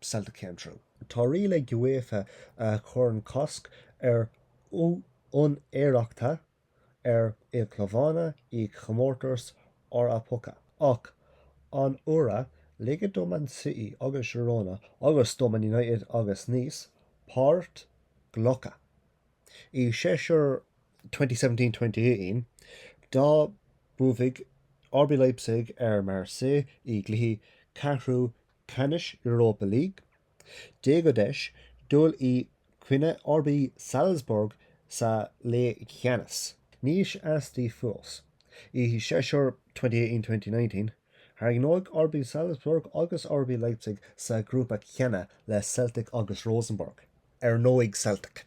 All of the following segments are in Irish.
Celtic came through. Tá riail ag UEFA a chuireann cosc ar úinéireachta ar ilchlubanna i gcomórtais Eorpacha, ach anuraidh ligeadh do Man City agus Girona agus do Man United agus Nice páirt ghlacadh i séasúr 2017, 2018 dá mbuafadh RB Leipzig ar Marseille i gcluichí ceathrú ceannais Europa League. D'fhéadfaidís dul i gcoinne RB Salzburg sa leathcheannais. Níos aistí fós, i séasúr 2018, 2019, tarraingíodh RB Salzburg agus RB Leipzig sa ghrúpa céanna le Celtic agus Rosenborg, ar ndóigh Celtic.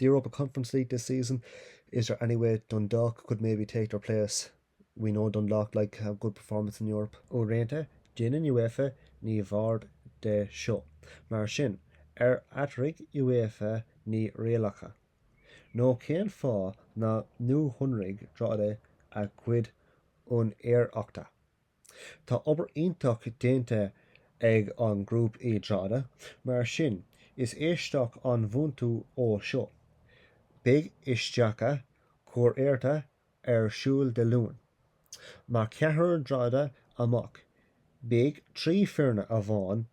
The Europa Conference League this season, is there any way Dundalk could maybe take their place? We know Dundalk like a good performance in Europe. Uaireanta, déanann UEFA neamhaird de seo. Mar sin, ar athraigh UEFA na rialacha? Nó cén fáth ná nuashonraigh Drogheda a gcuid úinéireachta? Tá obair iontach déanta ag an group i Drogheda mar sin is aisteach an botún é seo. Beidh éisteacht cúirte ar siúl Dé Luain. Má chaitear Drogheda amach beidh trí foirne amháin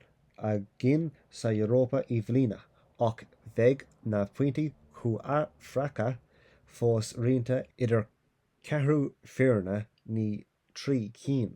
againn sa Europa i mbliana ach beidh na pointí comhéifeachta fós roinnte idir ceathrú foirne, ní trí cinn.